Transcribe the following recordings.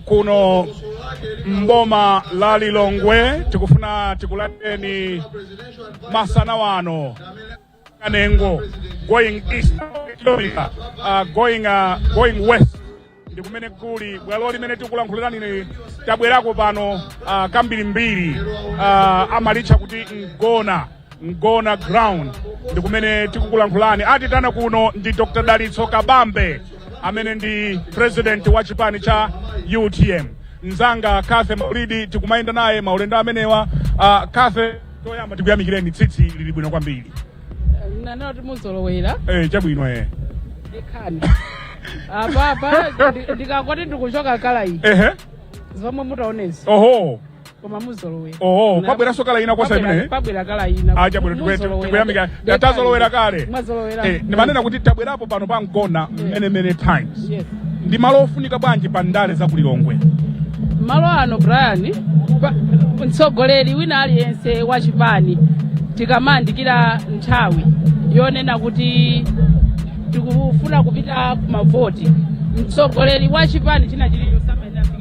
kuno mboma la Lilongwe tikufuna tikulandireni masana wano kanengo going east, uh, going, uh, going west ndi kumene kuli bwalo limene tikulankhulirani tabwerako pano uh, kambirimbiri uh, amalitcha kuti mgona mgona ground ndi kumene tikukulankhulani atitana kuno ndi dr dalitso kabambe amene ndi president wa chipani cha utm mzanga kathe maulidi tikumayenda naye maulendo amenewa uh, kathe toyamba tikuyamikireni tsitsi lili bwino kwambiri nane kuti muzolowera eh, chabwino eh. ikhani apapa ndi- ndikangoti ndikuchotsa kala iyi ehe zomwe mutaonezi oho koma muzolowera oho pabweranso kala ina kosa imene pabwera kala ina chabwino tikwete tikuyamika tatazolowera kale mwazolowera eh ndimanena kuti tabwerapo pano pa mgona many many times yes ndi malo ofunika bwanji pa ndale za kulilongwe malo ano brian pa- mtsogoleri wina aliyense wa chipani tikamayandikira nthawi yonena kuti tikufuna kupita kumavoti mtsogoleri wa chipani china chilichonse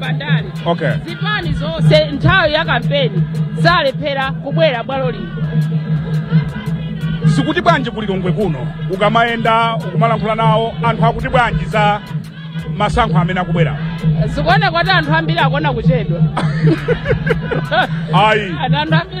pandale Okay. zipani zonse nthawi ya kampeni sizilephera kubwera bwalo lino zikuti bwanji ku lilongwe kuno ukamayenda ukumalankhula nawo anthu akuti bwanji za masankho amene akubwera zikuoneka kuti anthu ambiri akuona kuchedwa ayi anthu ambiri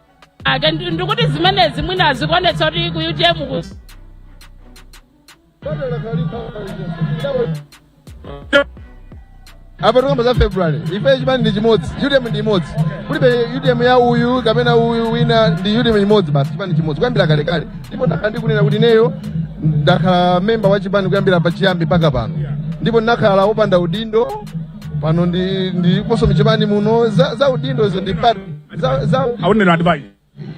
ake ndi- ndikuti zimenezi mwina zikuonetsa kuti ku utm ku apa tikamba za february ife chipani ndi chimodzi utm ndi imodzi kulibe utm ya uyu kapena uyu wina ndi utm imodzi basi chipani chimodzi kuyambira kalekale ndipo ndakhala ndikunena kuti ineyo ndakhala memba wa chipani kuyambira pachiyambi mpaka pano ndipo ndinakhala wopanda udindo pano ndi ndiponso mchipani muno za, za udindo izo ndi pati za, za aonera adibayi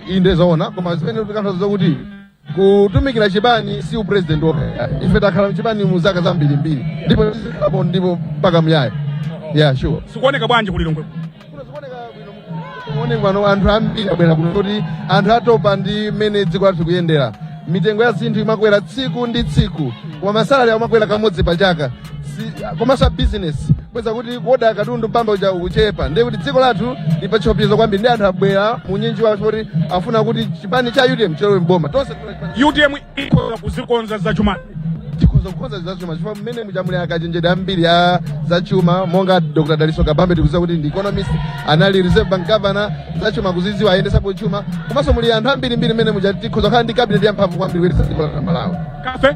inde zoona koma zimene tikanthaza zakuti kutumikira chipani si upresident okha ife takhala mchipani mu zaka zambirimbiri ndipo tizikhalapo ndipo mpaka muyaya yeah sure zikuoneka bwanji ku lilongwe zikuoneka bwino anthu ambiri abwera kuno kuti anthu atopa ndi mmene dziko lathu likuyendera mitengo ya zinthu imakwera tsiku ndi tsiku koma masalari amakwera kamodzi pa chaka si- komanso abizinesi kweza kuti kuoda katundu mpamba uja ukuchepa ndiye kuti dziko lathu lili pa chiopsezo kwambiri ndi anthu abwera munyinji wawo kuti afuna kuti chipani cha utm chilowe mboma tonse utm ikhoza kuzikonza zachuma tikhoza kukonza zachuma chifukwa mmene muja muli akachenjede ambiri a zachuma monga dr dalitso kabambe tikuziwa kuti ndi economist anali reserve bank governor zachuma kuziziwa ayendesapo chuma komanso muli anthu ambirimbiri mmene muja tikhoza kukhala ndi cabinet yamphamvu kwambiri kuyendetsa dziko la malawi kathe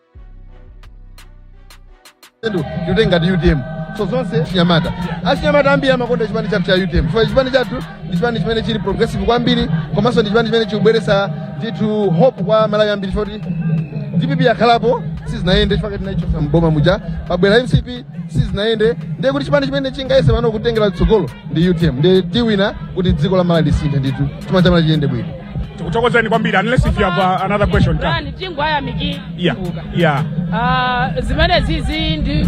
tikutenga ndi utm so zonse chinyamata achinyamata ambiri amakonda chipani chathu cha utm chifukwa chipani chathu ndi chipani chimene chili progressive kwambiri komanso ndi chipani chimene chikubweretsa ndithu hope kwa amalawi ambiri chifukwa kuti dpp yakhalapo sizinayende chifukwa tinayichotsa mboma muja pabwera mcp sizinayende ndiye kuti chipani chimene chingayese pano kutengera tsogolo ndi utm ndiye tiwina kuti dziko la malawi lisinthe ndithu chuma cha malawi chiyende bwino tikuthokozeni kwambiri unless if you have uh, another question ta Brian tingwaya miki. yeah yeah Ah, zimenezizi ndiye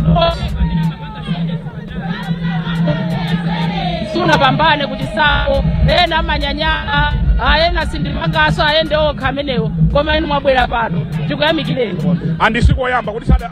sunapambane kuti sawo ena amanyanyala ayena sindipanganso ayende okha amenewo koma inu mwabwera pano tikuyamikireni and sikoyamba kuti sada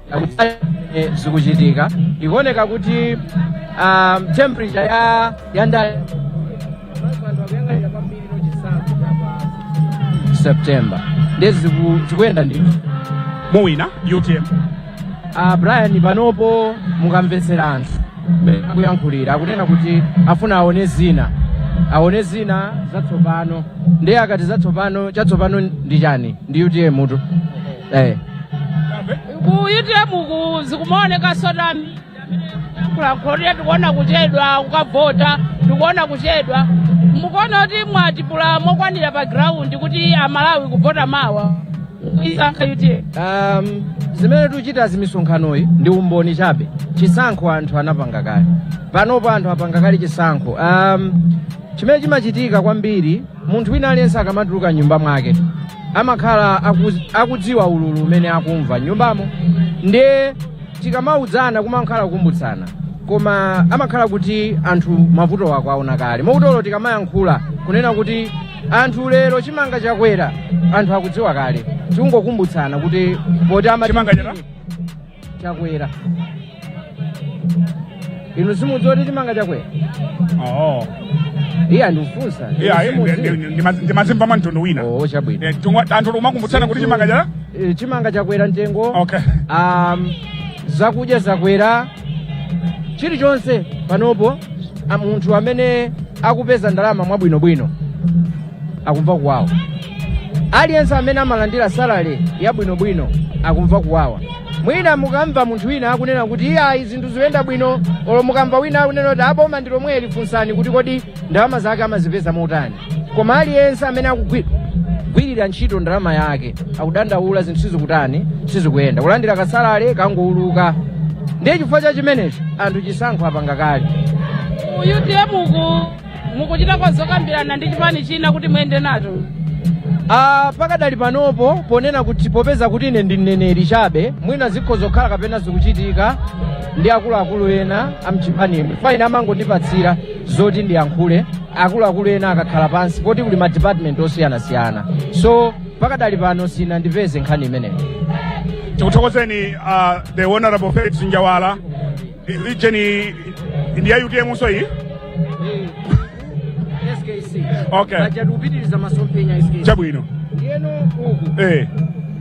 kutali kumene zikuchitika zikuoneka kuti um, temperature ya ya ndale september ndiye ziku- zikuyenda ndithu muwina utm uh, brian panopo mukamvetsera anthu mmene akuyankhulira akunena kuti afuna aone zina aone zina zatsopano ndiye akati zatsopano chatsopano ndi chani ndi utm mutu eh. ku utm uku zikumaoneka sota kulankhulako tikuona kuchedwa kukavota tikuona kuchedwa mukuona kuti mwatipula mokwanira pa ground kuti amalawi kuvota mawa isankha utm um, zimene tikuchita za misonkhanoyi ndi umboni chabe chisankho anthu anapanga kale panopo anthu apanga kale chisankho um, chimene chimachitika kwambiri munthu wina aliyense akamatuluka m'nyumba mwake amakhala akuz- akudziwa ululu umene akumva m'nyumbamo ndiye tikamauzana kumakhala kukumbutsana koma amakhala kuti anthu mavutowo akuwaona kale moti olo tikamayankhula kunena kuti anthu lero chimanga chakwera anthu akudziwa kale tikungokumbutsana kuti poti ama Chimanga chakwera? chakwera inu simukudziwa kuti chimanga chakwera oo iya ndikufunsa iya ndimazimva mwa mtundu wina oo chabwino Eh, tumwa- anthu tikumakumbutsana kuti chimanga cha Eh, chimanga chakwera mtengo okay um, zakudya zakwera chilichonse panopo a- munthu amene akupeza ndalama mwabwinobwino akumva kuwawa aliyense amene amalandira salale yabwinobwino akumva kuwawa mwina mukamva munthu wina akunena kuti iye ayi zinthu zikuyenda bwino olo mukamva wina akunena kuti a boma ndi lomweli funsani kuti kodi ndalama zake amazipeza motani koma aliyense amene akugwirira ntchito ndalama yake akudandaula zinthu sizikutani sizikuyenda kulandira kasalale kangouluka ndiye chifukwa cha chimenecho anthu chisankho apanga kale utm uku mukuchitako zokambirana ndi chipani china kuti muyende nacho Ah, pakadali panopo ponena kuti popeza kuti ine ndi mneneri chabe mwina zikhoza kukhala kapena zikuchitika ndi akuluakulu ena amchipanimu koma ine amangondipatsira zoti ndiyankhule akuluakulu ena akakhala pansi poti kuli ma department osiyanasiyana so pakadali pano sinandipeze nkhani imeneyo tikuthokozeni uh, the honorable felix njawala region iyi ndi ya utm nso iyi skc Okay. aja tikupitiriza masomphenya a SKC chabwino ndiyeno uku eh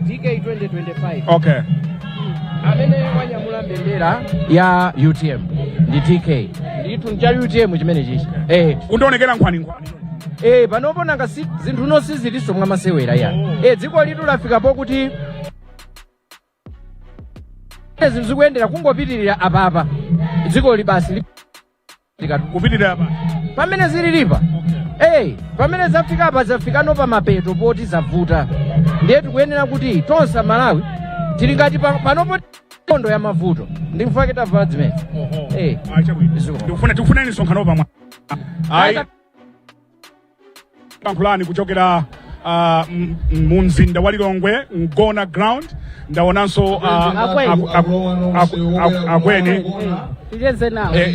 dk 2025 okay amene wanyamula mbendera ya utm ndi dk ndithu ncha utm chimene chichi eh kundionekera nkhwani nkhwani eh panopo nanga si zinthu no sizilinso mwa masewera ya eh dziko ilitu lafika pokuti zinthu sizikuyenera kungopitirira apapa dziko ili basi li- likatu kupitirira apa pamene zililipa eyi pamene zafika apa zafikano pa mapeto poti zavuta ndiye tikuyenera kuti tonse amalawi tili ngati pa- panopo nkhondo ya mavuto nchifukwa chake tavala zimenezi Eh. chabwino Ziko. ndikufuna tikufunani msonkhano pamwa ayi lankhulani kuchokera ah, m- m- mu mzinda wa lilongwe mgona ground ndaonanso ah, Akweni. aku- aku- aku- aku- akweni Ticheze nawo. Eh,